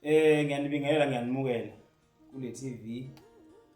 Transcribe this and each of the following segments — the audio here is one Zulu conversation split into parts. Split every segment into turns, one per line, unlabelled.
Eh ngiyanibingelela ngiyanimukela kule TV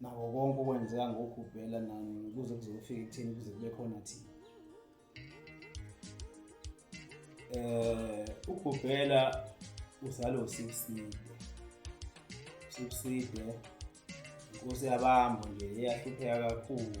nako konke okwenzeka ngokugubhela nani kuze kuzofika ekutheni kuze kube khona thina eh ugubhela uzalo sibuside sibuside inkosi yabambo nje eyahlupheka kakhulu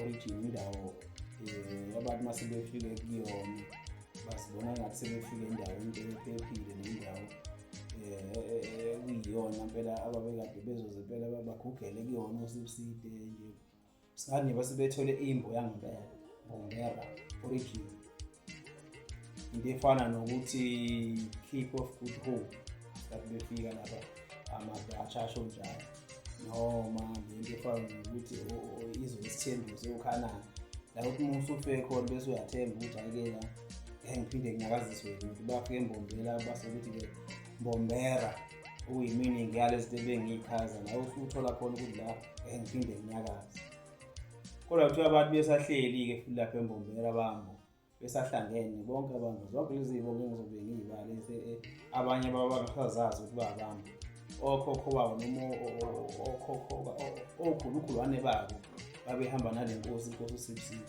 origin indawo um abantu uma sebefike kuyona basibona ngathi sebefike endaweni ephephile nendawo um ekuyiyona mpela ababekade bezoze mpela bagugele kuyona osibuside nje singathi nje basebethole imbo yangempela bombera origin into efana nokuthi keep of good hope that befika lapha ama-dutch asho njalo noma lento efana nokuthi izwe isithembiso ukhanana la ukuthi uma usufe khona bese uyathemba ukuthi ayikela engiphinde nginyakaziswe ukuthi bafike embombela base ukuthi-ke mbombera okuyiminingi yalezinto ebengiyichaza nawe usuthola khona ukuthi la engiphinde nginyakaze Kodwa kuthiwa abantu besahleli-ke futhi lapha embombela bambo besahlangene bonke abantu zonke lezi zibo ngengizobe ngiyibale eh, abanye babangasazazi ukuthi babambo okhokho babo noma okhokho okhulukhulwane babo babehamba nale nkosi inkosi usiphiwe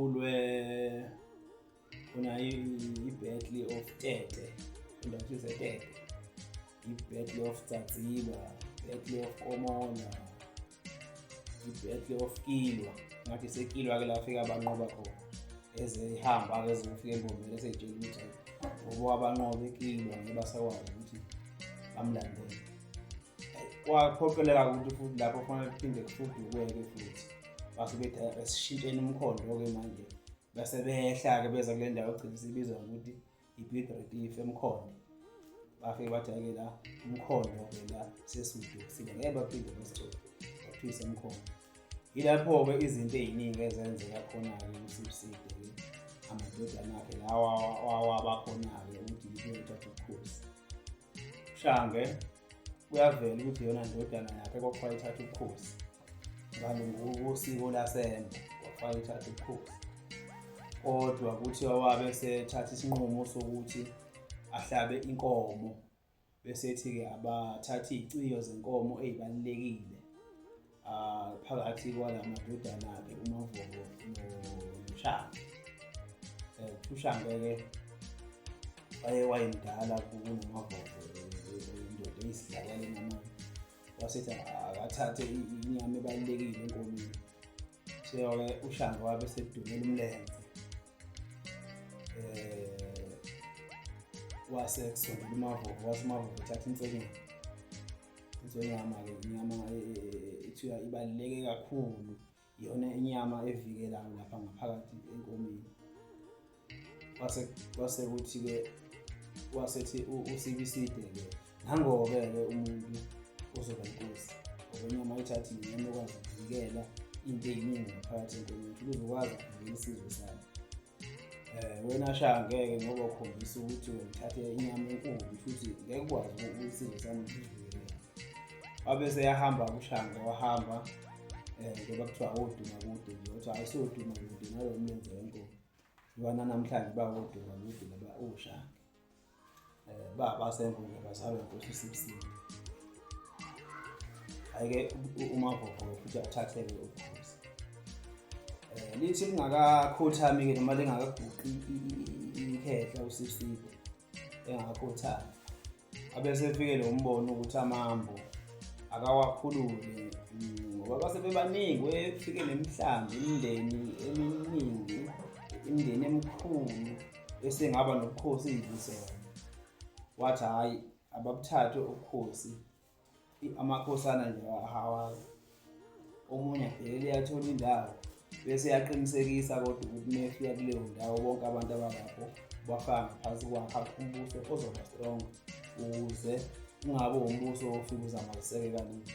ulwe unayo i-battle of tete indakhize tete i-battle of tsatsiba i-battle of komona i-battle of kilwa ngathi sekilwa ke lafika abanqoba khona ezihamba ke zofika embomeni eseyitshela ukuthi ngoba abanqobe kilwa ngebasakwazi ukuthi bamlandele kwaphoqeleka ukuthi futhi lapho kufanele kuphinde kufudukweke futhi base bethi asishintsheni umkhondo-ke manje base behla-ke beza kule ndawo egcina sibizwa ngokuthi i-big retif emkhondo bafike bathi ake la umkhondo-ke la sesudu kusile ngeke baphinde basithole baphise umkhondo yilapho-ke izinto ey'ningi ezenzeka khona-ke kusibuside-ke amadodana akhe lawa wawabakhona-ke ukuthi yikuyothatha ubukhosi Shange kuyavela ukuthi yona ndodana yakhe kwakuthiwa ithatha ubukhosi ngalungusiko lasembe kwakuthiwa ithatha ubukhosi kodwa kuthiwa wabe sethatha isinqumo sokuthi ahlabe inkomo besethi-ke abathathe iy'ciyo zenkomo ey'balulekile Ah, phakathi kwala madodana-ke umavovo noshanga um eh, ushange-ke waye wayemdala kunomavovo indoda eyisidlakaleni amanye wasethi akathathe inyama ebalulekile enkomini seyoke ushange wabe sedumela umlenze um wase kusondela umavovo wase umavovo uthatha insekeni into yama ke inyama ethiwa ibaluleke kakhulu iyona inyama evikelayo lapha ngaphakathi enkomeni kwase kwase ukuthi ke wasethi usibiside ke nangoke ke umuntu ozoba inkosi ngoba ithatha inyama ekwazi ukuvikela into eyiningi ngaphakathi enkomeni ukuthi uzokwazi ukuvikela isizwe sakhe um wena shaya ngeke ngoba ukhombisa ukuthi uthathe inyama enkulu futhi ngeke ukwazi ukuyisizwe sami wabe seyahamba kushanga wahamba um eh, ngoba kuthiwa woduma kude nje kuthiwa ayisoduma kude nalo mlenze wenkomo lwana namhlanje bawoduma kude laba ushanga Eh ba basenkundla bazalwa nkosi sibisini. Ayike uma gogo futhi athatheke ukhosi. Eh lithi lingakakhothami ke noma lingakaguqi ikhehla usibisini engakhothami. Abese efike lo mbono ukuthi amambo akawakhulule ngoba base bebaningi wefike nemihlambi imindeni eminingi imindeni emikhulu esengaba nobukhosi iy'nhlisela wathi hhayi ababuthathe ubukhosi amakhosana nje ahawazi omunye abhekele yathola indawo bese yaqinisekisa kodwa ukuthi mefika kuleyo ndawo bonke abantu abalapho bafaka ngaphansi kwakha umbuso ozoba strong ukuze ungabe wumbuso ofika uzamalisekekaningi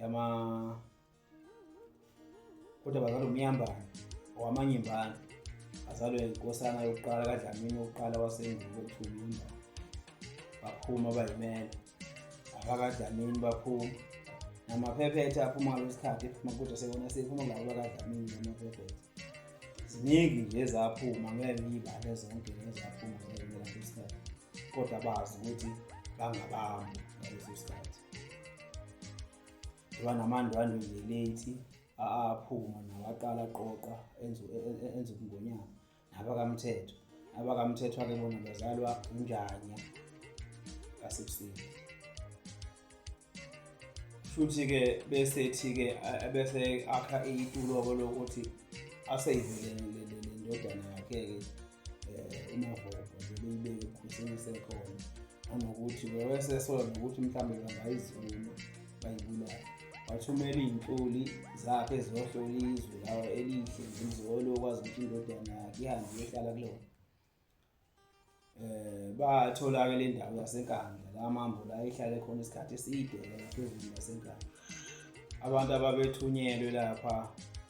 yama kodwa bazalwa umyambane owamanyembane azalwe inkosana yokuqala kadlamini wokuqala wasendulo kuthulumba baphuma bayimela abakadlamini baphuma namaphephetha aphuma ngalo sikhathi ephuma kodwa sekona sephuma ngalo bakadlamini namaphephetha ziningi nje ezaphuma ngeke ngiyibale zonke nezaphuma ngeke ngilapho isikhathi kodwa bazi ukuthi bangabami ngaleso sikhathi lwanamandwandwe nje late aphuma nawaqala aqoqa enza enza ubungonyama nabakamthetho abakamthetho ake bona bazalwa unjanya kasebusuku futhi-ke besethi-ke bese akha itulo-ke lokuthi aseyivele le ndodana yakhe-ke eh, umavovo nje beyibeke ekhuthini esekhona nanokuthi bewesesola nokuthi mhlawumbe bangayizuma bayibulale wathumela iy'ntuli zakhe eziyohlola izwe lawa elihle ngizolo okwazi ukuthi indodana yakhe ihambe iyohlala kulona eh batholaka le ndawo yasenkandla la mambo la ihlale khona isikhathi eside phezulu yasenkandla abantu ababethunyelwe lapha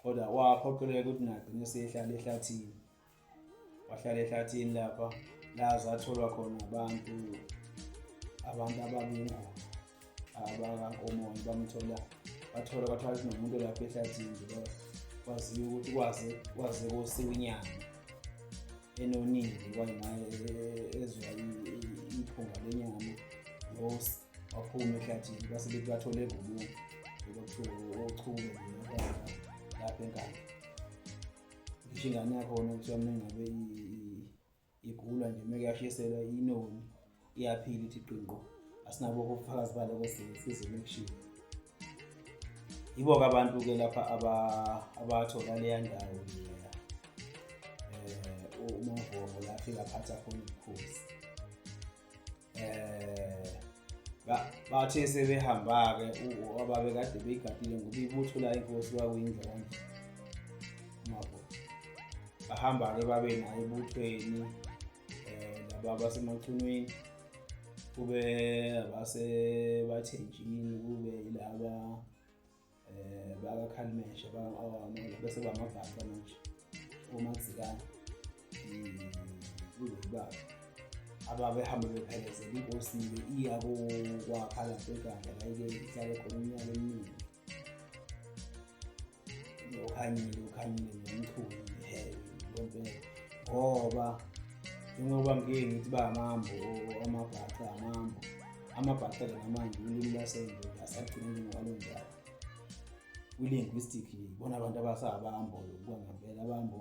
kodwa waphoqeleka ukuthi nagcine sehlala ehlathini wahlala ehlathini lapha la zatholwa khona abantu abantu ababingozi abakankomoyo bamthola bathola kwathiwa kunomuntu lapha ehlathini nje kwaziyo ukuthi kwaze kwaze kosiwa inyanga enonile kwayingaye ezwa iphunga lenyama waphuma ehlathini base bethi bathole evubuku lokuthiwa ochunge lapha enkaba ngisho ingane yakhona kuthiwa mina ngabe igula nje meke yashiselwa inoni iyaphila ithi qinqo asinabo ubufakazi bale kwesizwe lokushini yibo-ke abantu-ke lapha abathola leya ndawo leya um eh, umavomo lapho ingaphatha khona ubukhosi eh bathe sebehamba-ke ababe kade beyigadile ngoba ibutho la inkosi kwakuyindla kanje mabo bahamba-ke babe naye ebuthweni um eh, laba basemachunwini kube abasebathenjini kube yilaba eh bakakhalimesh bakaawama bese bamabhaca manje omazikana kulobaba ababehambe bephelezela inkosi iya kwakha lapho eganda layike ihlale khona umnyaka eminingi ukhanyile ukhanyile nomchuni hehe lempela ngoba njengoba ngike ngithi ba mambo amabhaca amambo amabhathela namanje ulimi lwasendulo asagcinile ngokwalonjalo kwi-linguistic bona abantu abasabambo yokuba ngempela abambo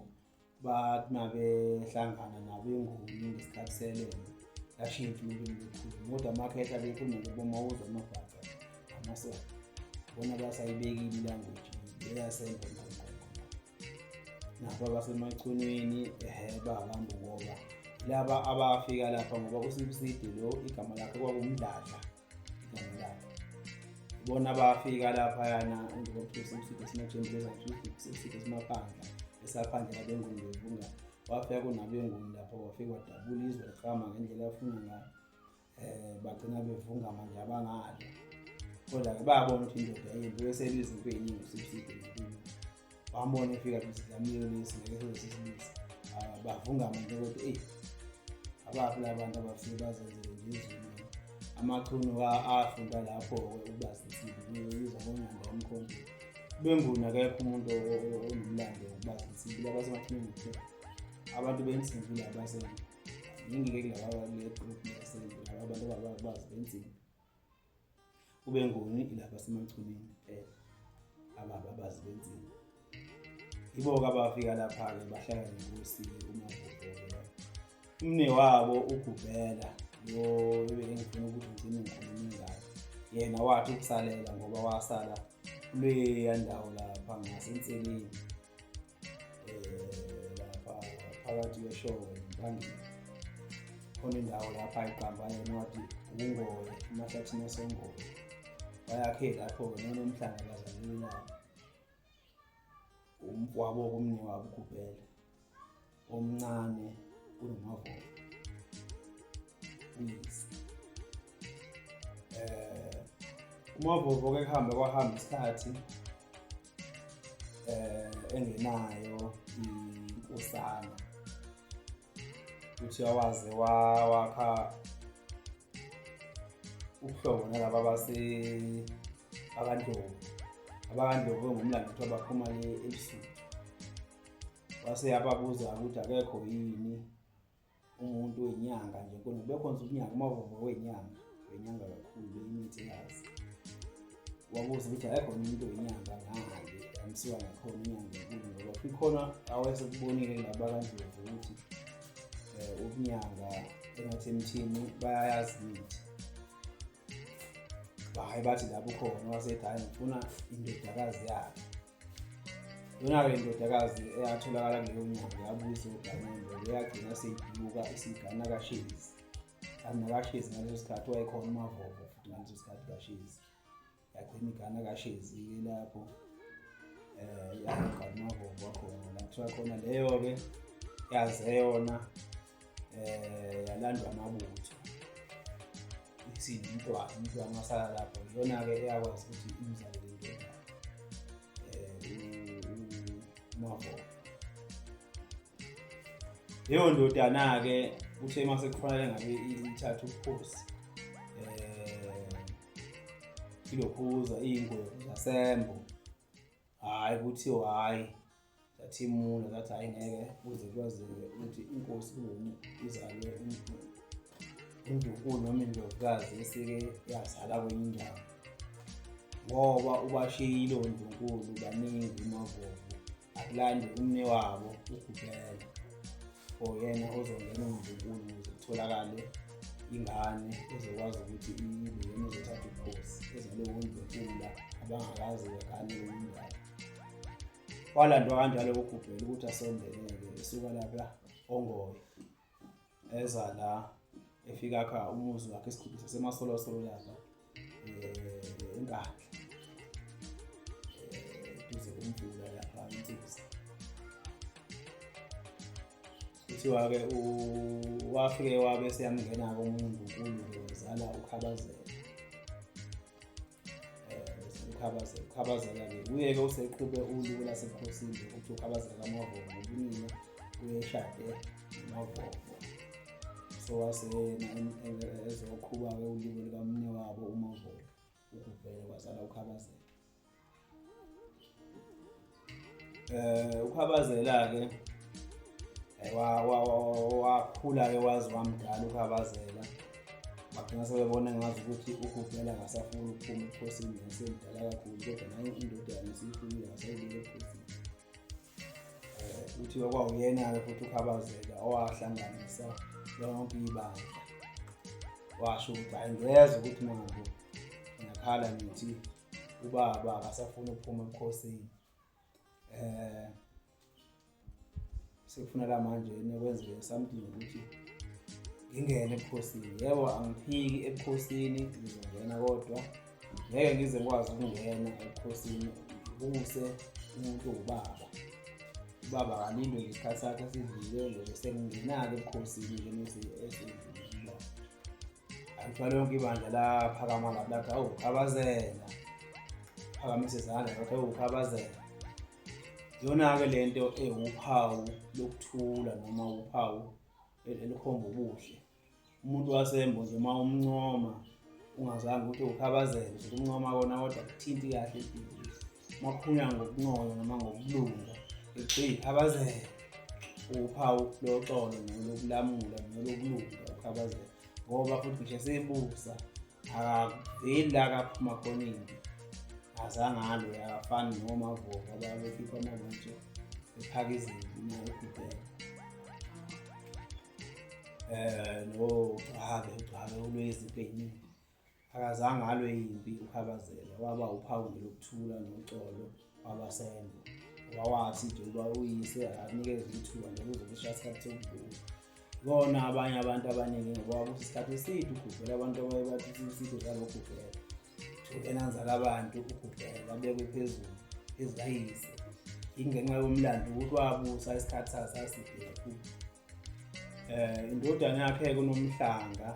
bathi mabehlangana nabo enguni ngesikhathi selenze lashintsha ulimi lukhulu kodwa amakhetha bekhuluma ngoboma uzwa amabhaca amasela bona basayibekile ilanguage leyasengo lapha basemachunwini um babantu ngoba laba abafika lapha ngoba usibusidi lo igama lakhe kwakumdladla igama lakhe bona bafika laphayana ngokusibusidi esimajembulezasibusidi esimaphandla esaphandla labengundovunga wafika kunabenguni lapho wafika wadabula izwe liqama ngendlela afuna ngayo eh bagcina bevunga manje abangadla kodwa ke bayabona ukuthi indoda yembi besenza izinto eziningi usibiside bambona efika kusidlamile lesi ngeke sozisibisa ah, bavunga manje ukuthi eyi abaphi labantu abafike bazenzele nje izulu amachuno afunda lapho ukuba sisibile uyizwa ngonyanda omkhombile benguni akekho umuntu onomlando wokuba sisibile abasemathuneni kuphela abantu bensimbi labasenza ngingike ngakaleqgroup yasenduka abantu ababazi benzima kube ngoni ilapha semachunini kuphela ababa bazi benzima yibo-ke abafika lapha-ke bahlala nenkosi umagubhela umne wabo ugubhela lo engifuna ukuthi ngigcine ngikhulume ngayo yena wathi ukusalela ngoba wasala kuleya ndawo lapha ngasenseleni eh, lapha phakathi kweshowe phambili khona indawo lapha iqamba yena wathi ukungoye emahlathini asengoye bayakhe lapho-ke nona umhlanga bazalile lapho umfwabo kumni wabo ugubhele omncane kunomavola uyise eh umavovo ke kuhambe kwahamba isikhathi eh engenayo inkosana uthi awaze wakha ubuhlobo nalaba base abandlovu abakandlovu ngumlando ukuthi abaphuma le ebusuku wase yababuza ukuthi akekho yini umuntu wenyanga nje kona bekhonza unyanga umavovo wenyanga wenyanga kakhulu imithi yazi wabuza ukuthi ayekho umuntu wenyanga ngale amsiwa ngakhona inyanga enkulu ngoba kukhona awesekubonile laba kandlovu ukuthi um eh, ubunyanga engathi emthini bayayazi imithi bahayi bathi lapho khona wasethi hayi ngifuna indodakazi yakhe yona-ke indodakazi eyatholakala kuleyo nyanga yabuza uganelo eyagcina seyiduka isigana kashezi kanti nakashezi ngaleso sikhathi wayekhona umavovo futhi ngaleso sikhathi kashezi yagcina igana kashezi-ke lapho um yagcina umavovo wakhona la kuthiwa khona leyo-ke yaze yona eh yalandwa amabutho isindi intwana intwana wasala lapho iyona-ke eyakwazi ukuthi imzale le nto umavoka leyo ndodana-ke uthe uma sekufanele ngabe ithatha ubukhosi um eh, ilokhuza iyingwevu zasembo Hhayi kuthiwa hhayi zathi imuna zathi hhayi ngeke kuze kwazeke ukuthi inkosi kungumi izalwe indukulu noma indlovukazi esike yazala kwenye indawo ngoba ubashiyile ondlunkulu baningi umavuvu akulande umne wabo ugubela oyena ozongena umdlukulu ukuze kutholakale ingane ezokwazi ukuthi ibuyena uzothatha ubukhosi ezilowo mdlukula abangakazi ngane lomndala walandwa kanjalo kugubhela ukuthi asondeleke esuka lapha ongoye eza la efika kha umuzi wakhe esikhulu sasemasolosololapha enkandla duze komvula lapha insizi kuthiwa-ke wafike wabe seyamngena komunye unkulunkulu wazala ukhabazela ukhabazela ukhabazela-ke kuye-ke useqhube uliku lasebukhosini ukuthi ukhabazela kamavovo ubunina uyeshade mavovo sewaseyena ezoqhuba-ke ulimi likamne wabo umavolo ukuvele kwazala ukhabazela um eh, ukhabazela-ke eh, wakhula-ke wazi wamdala ukhabazela bagcina sebebona ngazi ukuthi ugubhela ngasafuna ukuphuma ebukhosini nasemdala kakhulu kodwa nayo indoda yami siyifuyile ngasayibile ebukhosini kuthiwa kwawuyena-ke futhi ukhabazeka owahlanganisa lonke ibandla washo ukuthi hayi ngezwa ukuthi mina nje ngiyakhala ngithi ubaba akasafuni ukuphuma ebukhosini eh sekufuna la manje nekwenzeke something ukuthi ngingene ebukhosini yebo angiphiki ebukhosini ngizongena kodwa ngeke ngize ngikwazi ukungena ebukhosini kuse umuntu ubaba ubaba kalindwe ngesikhathi sakhe sivikele sengingena-ke ebukhosini ke mese esivula angithwale yonke ibandla laphakama lapho lathi awu khabazela phakamise izandla lathi awu khabazela yona-ke le nto ewuphawu lokuthula noma uphawu elikhomba ubuhle umuntu wasembo nje uma umncoma ungazange ukuthi ukhabazeke nje kumncoma kona kodwa kuthinti kahle ibhizinisi uma kukhulunywa ngokuncono noma ngokulunga ethi ukhabazeke uphawu loxolo nolokulamula nolokulunga ukhabazeke ngoba futhi ngisho sibusa yila kaphuma khona into azangalo yakafani nomavoka babekhipha amabutho ephaka izinto imali ekhuphela eh no ake ugcwale ulwezipho eziningi akazange alwe yimpi ukhabazela waba uphawu lokuthula noxolo wabasenzo wawathi nje uba uyise akakunikeza ithuba nje kuzokusha isikhathi sokugula kona abanye abantu abaningi ngoba wabusa isikhathi eside ugugela abantu abaye bathi iside udlala ugugela enanzala abantu ugugela abekwe phezulu ezikayise ingenxa yomlando ukuthi wabusa isikhathi sasaside kakhulu eh indodana yakhe kunomhlanga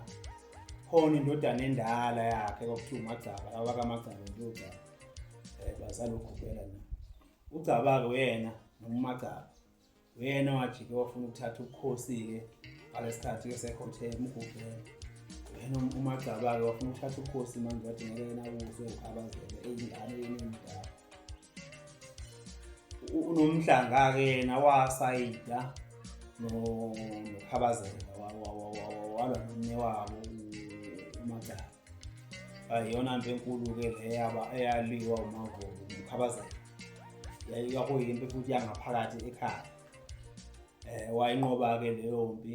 khona indodana endala yakhe kwakuthiwa umagcaba abakamagcaba indodana eh bazali ukhubela na ugcabake uyena nomagcaba uyena wajike wafuna ukuthatha ubukhosi-ke ngalesikhathi ke sekhothe umgubhela yena umagcabake wafuna ukuthatha ubukhosi manje wathi ngeke yena kuze ukhabazele eyingane yena emdala unomhlanga-ke yena wasayida nokhabazela walwa nomnye wabo umadala ayiyona nto enkulu-ke leya eyaliwa umavolo nokhabazela yayikakuyimpi futhi yangaphakathi ekhaya um wayinqoba-ke leyo mpi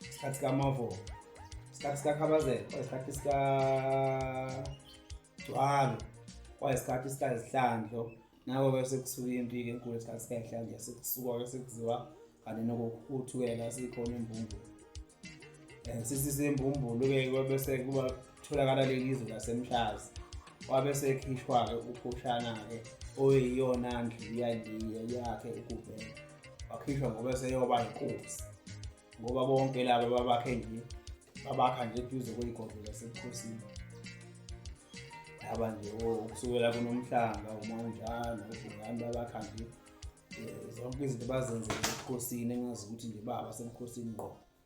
isikhathi sikamavo isikhathi sikakhabazela kwayisikhathi sikagcwalo kwayisikhathi sikazihlandlo nako ke sekusuka impi ke enkulu isikhathi sikayihlandlo sekusuka ke sekuziwa kanti nokuthukela sikhona imbumbulu um eh, sisise imbumbulu ke kwabese kuba Kutholakala leli zwe laseMhlazi wabe sekhishwa-ke ukhushana-ke oyiyona ndlu yaliye yakhe ukuvela wakhishwa ngoba eseyoba inkosi ngoba bonke laba babakhe nje babakha nje eduze kweyigodlo lasebukhosini laba nje ukusukela kunomhlanga uma unjalo ubhungani babakha nje um zonke izinto bazenzele ebukhosini engazi ukuthi nje baba sebukhosini ngqo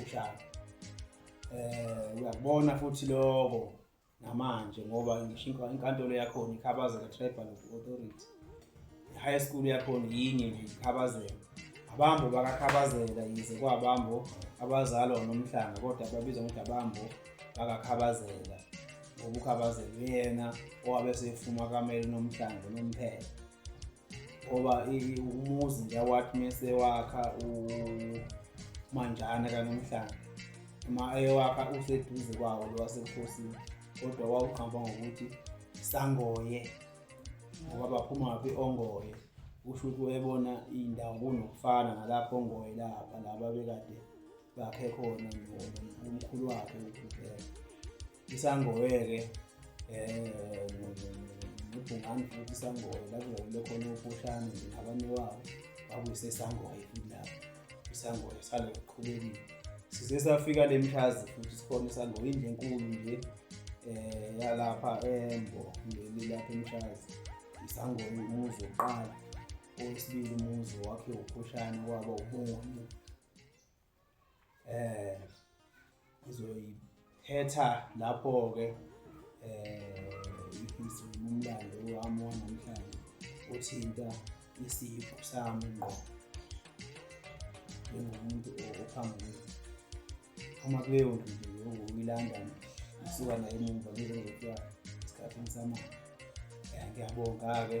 uhlala eh uyakubona futhi lokho namanje ngoba ngisho inkantolo yakhona ikhabazeka tribal authority high school yakhona yinye nje ikhabazeka abambo bakakhabazela yize kwabambo abazalwa nomhlanga kodwa babizwa ngokuthi abambo bakakhabazela ngobukhabazela uyena owabe sefuma kamele nomhlanga nomphela ngoba umuzi nje wathi mese wakha umanjana kanomhlanga uma eyowakha useduze kwawo lo wasebukhosini kodwa wawuqamba ngokuthi sangoye ngoba baphuma phi ongoye usho ukuthi wayebona iy'ndawo kunokufana nalapho ongoye lapha laba bekade bakhe khona nomkhulu wakhe ukhuleka isangoweke eh ngibhungani futhi isangowe lapho ngakule khona upushane nje nabanye wabo bakuyisesangowe futhi lapho isangowe sale kuqhubekile size safika le mhlazi futhi sikhona isangowe indlu enkulu nje eh yalapha embo leli lapha emhlazi isangowe umuzi wokuqala owesibili umuzi wakhe uphushane waba ubungoni eh ngizoyiphetha lapho ke eh umlando wami wanamhlanje othinta isipho sami ngqo njengomuntu ophambili uma kuleyo ndlu ngokuyilanda ngisuka naye emumva ngizokuthiwa esikhathini samanje ngiyabonga-ke